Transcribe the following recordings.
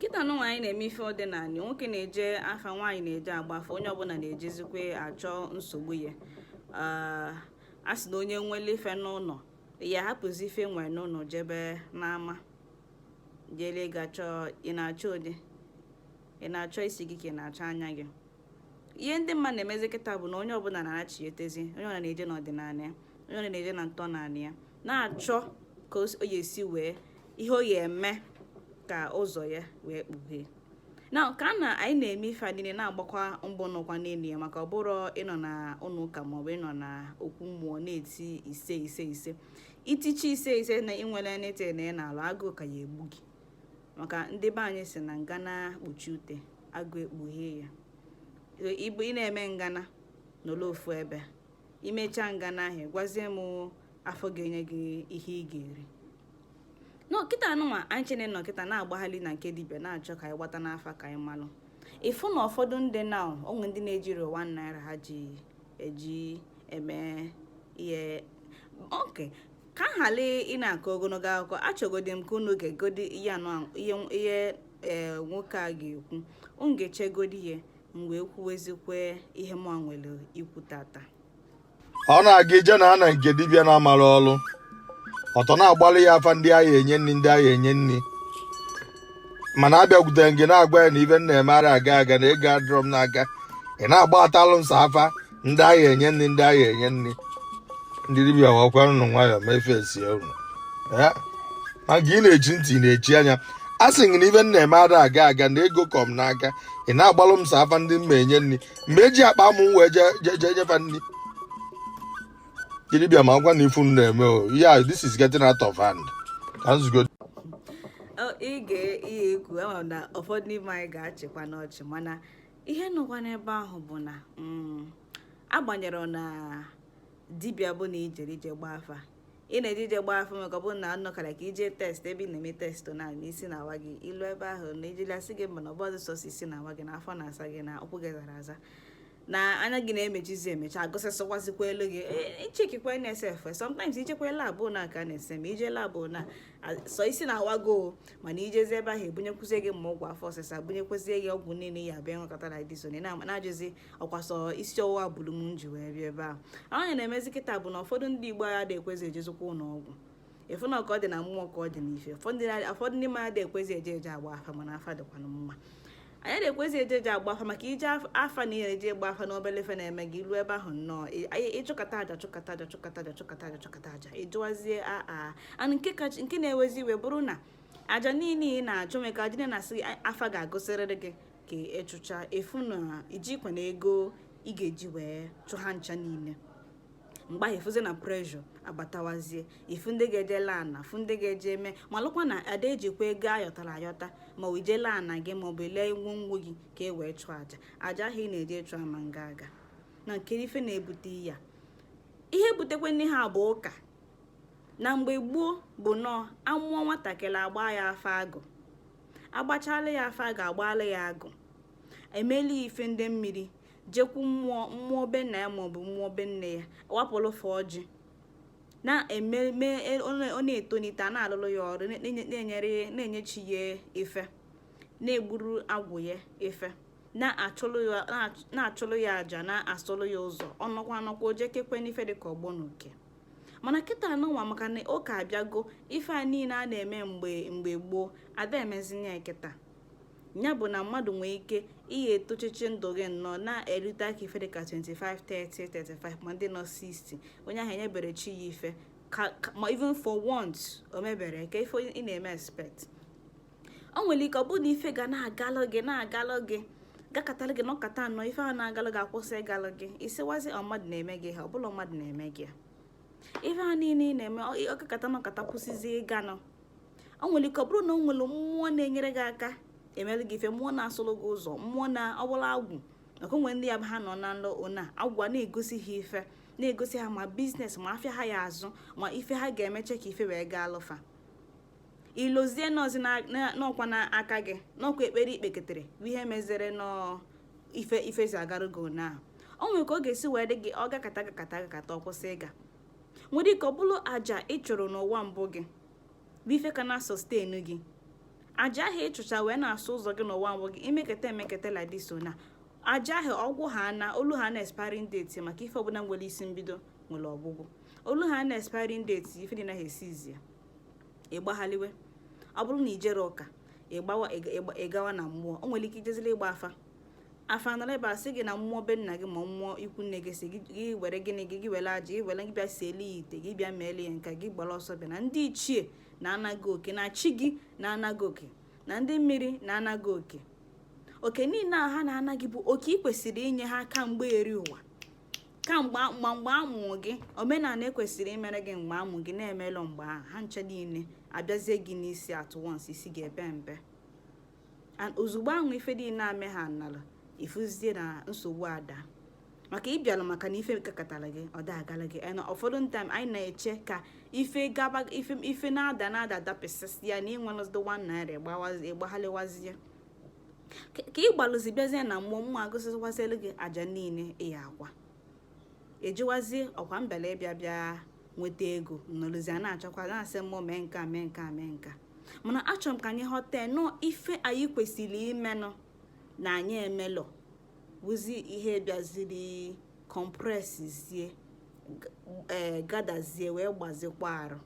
kịta nụnwa anyị na-eme ife ọdịnala nwoke na-eje afa nwaanyị na-eje agba afa onye ọbụla na-ejezikwe achọ nsogbu ya a sị na onye nwere ife n'ụlọ ya hapụzi ife o nwere n'ụlọ jebe n'ama jere gachọ ị na-achọ onye na-achọ isi gị ka ị na-achọ anya gị ihe ndị mmadụ na-emezi kịta bụ na onye ọbụla na-achị etezi onye ọbụla na-eje n'ọdịnala ya onye ọbụla na-eje na ntọnala ya na-achọ ka ọ ya-esi wee ihe ọ ya-eme ka ụzọ ya wee kpughee nke a na anyị na-eme ife a niile na-agbakwa mbọ nọkwa n'elu ya maka ọ bụrụ ịnọ na ụlọ ụka maọbụ ịnọ na okwu mmụọ na-eti ise ise ise i tichaa ise ise na i nwere nete na ị na-alụ agụụ ka ya-egbu gị maka ndị be anyị sị na ngana kpuchie ute agụụ ekpughee ya ịbụ ị na-eme ngana nọlụ ofu ebe i mechaa ngana ahụ gwazie m afa ọ ga-enye gị ihe ị ga-eri na ọ kịta nụnwa anyị chere na ọ kịta na-agbagharị na nke dibịa na-achọ ka anyị gbata n'afa ka anyị malụ ị fụ na ụfọdụ ndị na o nwee ndị na-ejiri one naira ha ji eji eme ihe okay ka m ghara ịna-akọ ogologo akụkọ achọgodi m ka unu gegodi ihe anụ ahụ- ihe ihe ee nwoke a ga-ekwu unu gechagodi ya m wee kwuwezikwe ihe mụwa nwere ikwu tata ọ na a ga-eje na nke dibịa na-amara ọrụ ọtọ na-agbalụ ya afa ndị a ga-enye nri ndị a ga-enye nri mana a bịakwutere gị na-agwa gị na ife m na-eme ara aga aga na ego adịrọ m n'aka ị na-agbatalụ m sọ afa ndị a ga-enye nri ndị a ga-enye nri ndị dibịa wekwanụ nwayọọ mefe esie unu Eh, maka ị na-echi ntị ị na-echi anya a sị gị na ife m na-eme ara aga aga na ego kọ m n'aka ị na-agbalụ m sọ afa ndị m ma-enye nri m ga-eji akpa amụ m wee jee nye fa nri dibịa makwa na ife unu na-eme a this is getting out of hand ka nzugo ị ga-eyi ekwu ama m na ụfọdụ n'ime anyị ga-achịkwanụ ọchị mana ihe nọkwa n'ebe ahụ bụ na mm, agbanyere na dibịa bụ na i jere ije gba afa ị na-eje ije gbaa afa maka ọ bụrụ na anụ kara ka i je test ebe ị na-eme test na isi na-awa gị i lu ebe ahụ na i jelụ a sị gị mba na ọ bụrọ sọsọ isi na-awa gị na afọ na-asa gị na ụkwụ gị zara aza na anya gị na-emechizi emecha a gụsịsịkwazikwaalụ gị ichekikwa nsf sometimes i jekwa lab na ka na-ese ma i je lab na sọ isi na-awa gị o mana i jezi ebe ahụ e bunyekwuzie gị ma ọgwụ afọ ọsịsa bunyekwezie gị ọgwụ niile ya abịa ịṅụkọta na dizon na-ajụzi ọkwasọ isi ọwụwa buru m nji wee bịa ebe a ahụ ya na-emezi kịta bụ na ụfọdụ ndị igbo agha dị ekwezi ejezikwa ụlọ ọgwụ efu na ka ọ dị na mmụọ ka ọ dị n'ife ụfọdụ ndị mmadụ ekwezi eje eje agba afa mana afa dịkwana mma anyị na-ekwezi eje eje agba afa maka ije afa na ihe eje agba afa n'obele ife na-eme gị ilu ebe ahụ nnọọ ịchụkọta aja chụkọta aja chụkọta aja chụkọta aja chụkọta aja ịjụwazie aa anụ nke kacha nke na-ewezi iwe bụrụ na aja niile ị na-achụ meka aja na-asị afa ga-agụsịrịrị gị ka ị chụcha ị fụ na i jikwa na ego ị ga-eji wee chụ ha ncha niile mgbe ahụ ị fụzie na pressure abatawazie ị fụ ndị ga-eje lee ana fụ ndị ga-eje eme malụkwa na a da ejikwa ego a yọtara ayọta ma ọ ije lee ana gị maọbụ ile ngwongwo gị ka e wee chụọ aja aja ahụ ị na-eje chụọ ama nga aga nekene ife na-ebute ya ihe butekwanụ ihe a bụ ụka na mgbe gboo bụ nọọ a mụọ nwatakịrị a gbaa ya afa agụ agbachala ya afa ga-agbala ya agụ emela ya ife ndị mmiri jekwu mmụọ mmụọ be nna ya maọbụ mmụọ be nne ya wapụrụ fa ọjị na-ememe e, ọ na-etonite a na-alụlụ ya ọrụ na-enyere na-enye chi ya ife na-egburu agwụ ya ife na-achụlụ ya aja na-asụlụ ya ụzọ ọ nọkwa anọkwa o jekekwa n'ife dịka ọgbọ na uke mana kịta anụnwa maka na ụka abịago ife a niile a na-eme mgbe mgbe gboo a da emezina ya kịta ya bụ na mmadụ nwee ike ihe etochichi ndụ gị nnọọ na-erute aka ife dịka 25 30 35 ma ndị nọ 60 onye ahụ enyebere chi ya ife ma even for once o mebere kee ife ị na-eme expect o nwere ike ọ bụrụ na ife ga na-agalụ gị na-agalụ gị gakatara gị nọkata nọ ife ahụ na-agalụ gị akwụsị ịgalụ gị ị sịwazie ọ mmadụ na-eme gị ihe a ọ bụrọ mmadụ na-eme gị ihe a ife a niile ị na-eme ọ gakata nọkata kwụsịzi ịganụ o nwere ike ọ bụrụ na o nwere mmụọ na-enyere gị aka emere gị ife mmụọ na-asụrụ gị ụzọ mmụọ na ọ bụlụ agwụ maka o nwee ndị ya bụ ha nọ na nlọ ụla agwụ a na-egosi ha ife na-egosi ha ma business ma afịa ha ya-azụ ma ife ha ga-emeche ka ife wee gaalụ fa i lozie nọọzị na ọ kwa n'aka gị na ọ kwa ekpere i kpeketere bụ ihe mezere nọọ ife jizi agarụ gị ụnyaahụ o nwere ka ọ ga-esi wee dị gị ọ gakata gakata gakata ọ kwụsị ịga nwere ike ọ bụrụ aja ị chụrụ n'ụwa mbụ gị bụ ife ka na-sustain gị aja ahụ ị chụcha wee na-asụ ụzọ gị n'ụwa mbụ gị i meketa emeketa like this so na aja ahụ ọ gwụ ha na o lu ha na expiring date maka ife ọbụla nwere isi mbido nwere ọgwụgwụ o lu ha na expiring date ife dị naghị esizi ya ịgbaghaliwe ọ bụrụ na ijere ụka ịgbawa ịgawa na mmụọ o nwere ike ijezili ịgba afa afa nọrọ ebe a sị gị na mmụọ be nna gị ma mmụọ ikwu nne gị sị gị were gịnị gị gị were aja gị were gị bịa siele ya ite gị bịa meele ya nka gị gbara ọsọ bịa na ndị ichie na-ana gị oke na chi gị na-ana gị oke na ndị mmiri na-ana gị oke oke niile a ha na-ana gị bụ oke ị kwesịrị inye ha ka mgbe eri ụwa ka mgbe ma mgbe a mụrụ gị omenala e kwesịrị imere gị mgbe a mụrụ gị na emelọ mgbe ahụ ha ncha niile abịazie gị n'isi at once isi ga-ebe mbe and ozugbo ahụ ife niile ame ha nala i fuzie na nsogbu ada maka ịbịalụ maka na ife gakatara gị ọ dagara gị na ụfọdụ time anyị na-eche ka ife gaba ife ife na-ada na-ada dapịasịa na i nwelọzi one naira ịgbaghalịwazie ka ị gbalụzi bịazie na mmụọ mmụọ agụsịkwazielu gị aja niile ị ya-akwa ejiwazie ọkwa mbele ịbịa bịa nweta ego nọrụzie na-achọkwa na-asị mmụọ mee nka mee nka mee nka mana achọrọ m ka anyị ghọta na ọ ife anyị kwesịrị imenụ na anyị emelọ bụzi ihe bịaziri compresszie ee eh, gadazie wee gbazikwa arụ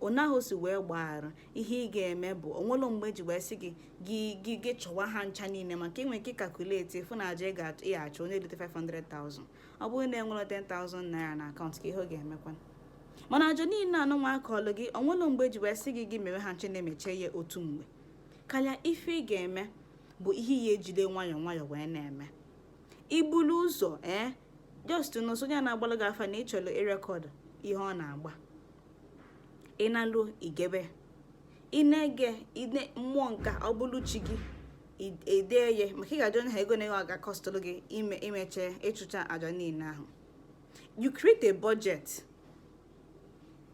onye ahụ si wee gbaghara ihe ị ga-eme bụ o nwelọ mgbe e ji wee sị gị gị gị gị chụwa ha ncha niile maka i nwee ike ịcalculate ị fụ na aja ị ya-achụ onye erite 500,000 ọ bụrụ na i nwere 10,000 naira na account kee ihe ọ ga-emekwa mana aja niile anụ nwa a kọọlụ gị o nwelọ mgbe e ji wee sị gị gị mewe ha ncha na-emeche ya otu mgbe kama ife ị ga-eme bụ i ya-ejide nwayọọ nwayọọ wee na-eme ibulu ụzọ ee just nọsonye na-agbalụ gị afa na ị chọrọ ịrecord ihe ọ na-agba ị na-alụ i gebe ị na-ege mmụọ nka ọ bụrụ chi gị i dee ya maka ị ga-ajụ onye ahụ ego na ego ọ ga-acostụlụ gị ime imeche ịchụcha aja niile ahụ you create a budget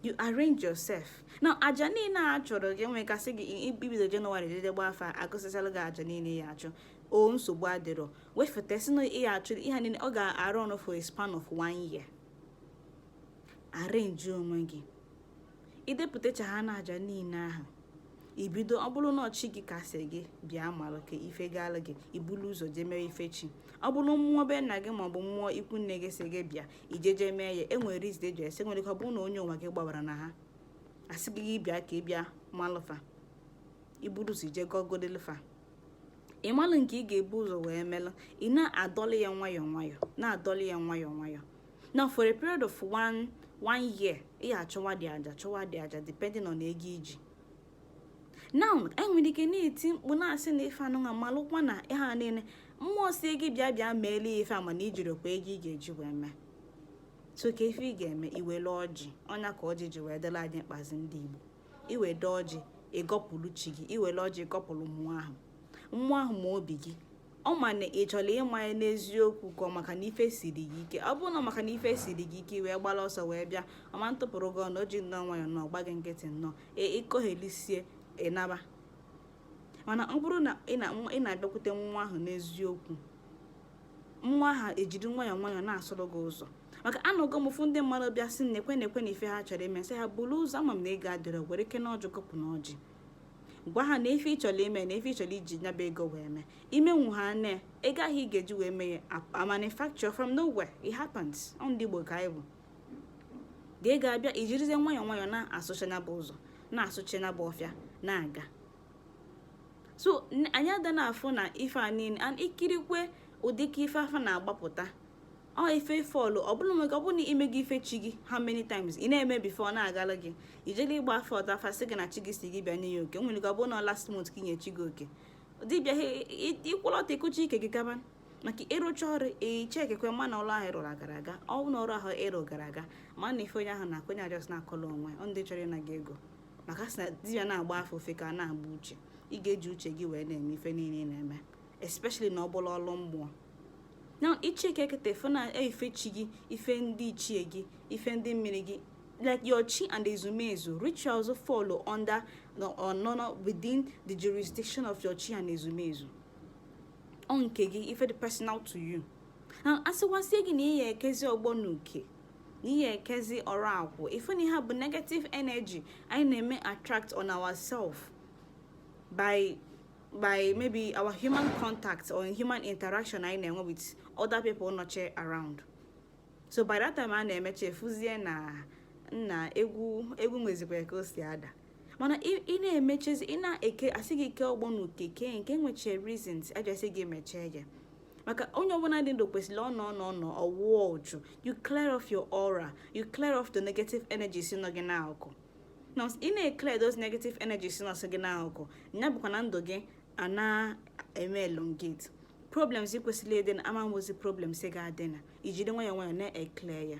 you arrange yourself na aja niile a chọrọ gị nwekasị gị ibido January jee gba afa agụsịsịalụ gị aja niile ị ya-achụ o nsogbu adịrọ wefụtasịa ihe achụ ihe niile ọ ga-arụ ọnụ for a span of one year arrange onwe gị idepụtacha ha na aja niile ahụ ibido ọ bụrụ na ọ chi gị ka a sị gị bịa malụ ka ife gaalụ gị ibulu ụzọ jee mere ife chi ọ bụrụ mmụọ be nna gị maọbụ mmụọ ikwu nne gị sị gị bịa ije jee mee ya e nwere reason e ji asị o nwere ike ọ bụrụ na onye ụwa gị gbabara na ha asị gị gị bịa ka ị bịa malụ fa iburu ụzọ ije gọgodelụ fa ịmalụ nke ị ga-ebu ụzọ wee melụ ị na-adọlị ya nwayọọ nwayọọ na-adọlị ya nwayọọ nwayọọ now for a period of one one year ị achụwadị aja chụwadị aja depending on ego i ji now e nwere ike na-eti mkpu na-asị na ife anụnwa malụkwa na ife niile mmụọ sị gị bịa bịa meele ya ife a mana i jirọkwa ego ị ga-eji wee mee so ka ife ị ga-eme i wele ọjị ọ nya ka ọjị ji wee dịlị anyị mkpa as ndị Igbo i were ọjị ị gọpụrụ chi gị i were ọjị ị gọpụrụ mmụọ ahụ mmụọ ahụ ma obi gị ọ ma na ị chọrọ ịma ya n'eziokwu ka ọ maka na ife siri gị ike ọ bụrụ na maka na ife siri gị ike i wee gbara ọsọ wee bịa ọ ma-atụpụrụ gị ọnụ o ji nnọọ nwayọ na ọ gba gị nkịtị nnọọ ị kọghelisie ị naba mana ọ bụrụ na ị na-abịakwute mmụọ ahụ n'eziokwu mmụọ ahụ ejiri nwayọọ nwayọọ na-asụrụ gị ụzọ maka anọgo m fụ ndị mmadụ bịa sị nekwe nekwe ife ha chọrọ ime sị ha buru ụzọ ama m na ego adịrọ were kene ọjị gọpụ na ọjị gwa ha na ife ị chọrọ ime na ife ị chọrọ iji nyaba ego wee mee i menwu ha na ego ahụ ị ga-eji wee mee ya manufacture from nowhere it happens ọ ndị Igbo ka anyị bụ ego ga-abịa i jirizie nwayọọ nwayọọ na-asụcha nyaba ụzọ na-asụcha nyaba ọfịa na-aga so anyị ada na afụ na ife a niile and ikirikwe ụdị ka ife afa na-agbapụta ọ ife fọlụ ọ bụrụ nwere ọ bụrụ na i meghị ife chi gị how many times ị na-eme before ọ na-agala gị i jele ịgba afa taa afa sị gị na chi gị sị gị bịa nye ya oke nwere ike ọ bụrụ na last month ka i nye chi gị oke dibịa ịkwụlọta ịkụcha ike gị gaba maka ị rụcha ọrụ ị checkikwa ma na ọrụ ahụ ị rụrụ gara aga ọ na ọrụ ahụ ị rụ gara aga ma na ife onye ahụ na-akụ onye a just na-akọlụ onwe ndị chọrọ ịna gị ego maka a sị na dibịa na-agba afa ofu aka a na-agba uche ị ga-eji uche gị wee na-eme ife niile ị na-eme especially na ọ bụlụ ọlụ mmụọ na ị checkikete fụ na ife chi gị ife ndị ichie gị ife ndị mmiri gị like your chi and ezumezu rituals follow under or nọ within the jurisdiction of your chi and ezumezu ọ nke gị ife dị personal to you na a sịkwazie gị na ị ya-ekezi ọgbọ na uke na ị ya-ekezi ọrụ akwụ ife ndị a bụ negative energy anyị na-eme attract on ourself by by maybe our human contact or human interaction anyị na-enwe with other people nọcha around so by that time a na-emecha ị fụzie na na egwu egwu nwezikwa ka o si ada mana ị na-emechazi ị na-eke a sị gị kee ọgbọ na uke kee nke which is reasons e ji asị gị mechaa ya maka onye ọbụla dị ndụ kwesịrị ọ nọ nọ nọ ọ wụọ uchu you clear off your aura you clear off the negative energies nọ gị n'akụkụ na ị na-eclear those negative energies nọ gị n'akụkụ ya bụkwa na ndụ gị a na-eme elongate problems ị kwesịrị ịdị na ama nwezi problems ị ga-adị na i jiri nwayọọ nwayọọ na-eclear ya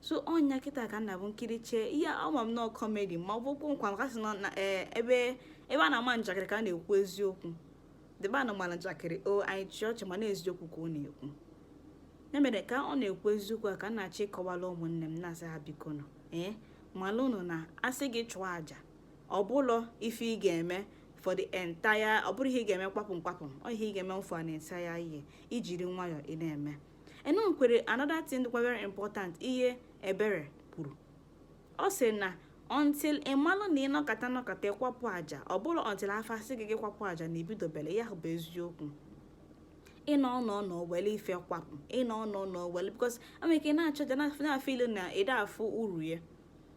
so ọ ya kịta ka ọ na-abụ m kirichaa ihe a ama m na ọ comedy ma ọ bụ okwu nkwa maka a sị na e, ebe ebe a na-ama njakịrị ka a na-ekwu eziokwu ebe a na-ama njakịrị o anyị chịa ọchị mana eziokwu ka ọ na-ekwu ya mere ka ọ na-ekwu eziokwu a ka m na-achọ ịkọwala ụmụnne m na-asị ha biko nụ ee malụ nụ na a sị gị chụọ àjà ọ bụlọ ife ị ga-eme for the entire ọ bụrọ ihe ị ga-eme kpapụ mkpapụ ọ ihe ị ga-eme mfọ na entire ihe ijiri nwayọọ ị na-eme e nwekwere another thing dịkwa very important ihe Ebere kwuru ọ sị na until ịmalụ na ịnọkata nọkata ịkwapụ aja ọ bụrọ until afa asị gị gị kwapụ aja na ibidobere ya bụ eziokwu ịnọ ọnọ nọ wele ife kwapụ ịnọ ọnọ nọ wele because i nwere ike na-achụ aja na-afeel na ị da-afụ uru ya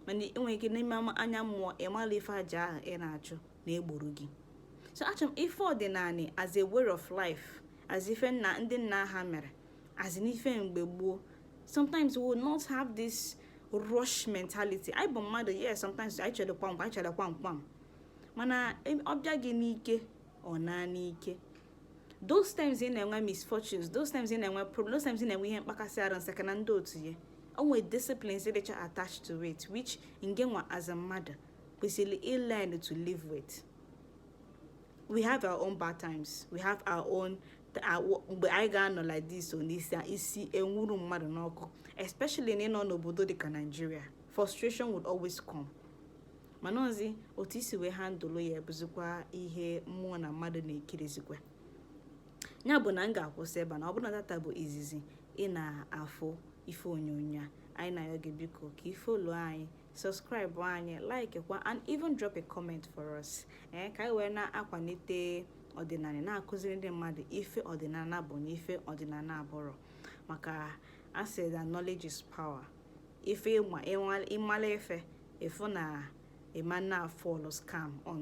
mana enwere ike n'ime anya mmụọ ịmala ife aja ahụ ị na-achụ na-egboro gị so achọ m ife ọdịnala as a way of life as ife nna ndị nna ha mere as in ife mgbe gboo sometimes we will not have this rush mentality anyị bụ mmadụ yes sometimes anyị chere kwamkwa anyị chere kwamkwam mana ọ bịa gị n'ike ọ naa n'ike those times ị na-enwe misfortunes those times ị na-enwe problem those times ị na-enwe ihe mkpakasị arụ nsaka na ndị otu ya o nwe disciplines dịcha attached to it which ngị nwa as a mmadụ kwesịrị ilearn to live with we have our own bad times we have our own mgbe anyị ga-anọ like this on isi isi enwuru mmadụ n'ọkụ especially na ịnọ n'obodo dịka Nigeria frustration would always come mana ọ zi otu i si wee handle ya bụzikwa ihe mmụọ na mmadụ na-ekirizikwa ya bụ na m ga-akwụsị ebe a ọ bụrụ na taata bụ izizi ị na-afụ ife onyonyo a anyị na-ayọ gị biko ka ị follow anyị subscribe anyị like kwa and even drop a comment for us ee eh, ka anyị wee na-akwalite ọdịnala na-akụziri ndị mmadụ ife ọdịnala bụ na ife ọdịnala abụrọ maka a sị na knowledge is power if ị mala ife ị fụ na ị ma na-afall scam on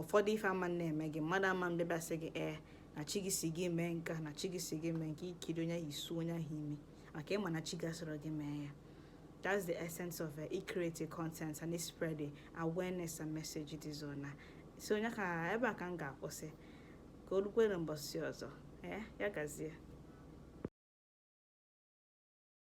ụfọdụ ife ama na-eme gị mmadụ ama bịa sị gị ee eh, na chi gị sị gị mee nke a na chi gị sị gị mee nke a i kiri onye ahụ isu onye ahụ imi maka ị ma na chi gị asịrọ gị mee ya That's the essence of uh, ịcreate content and ịspread the awareness and message it is on. So onye ka ebe a ka m ga-akwụsị ka o rukwe na mbọsị ọzọ. Eh, ya gazie.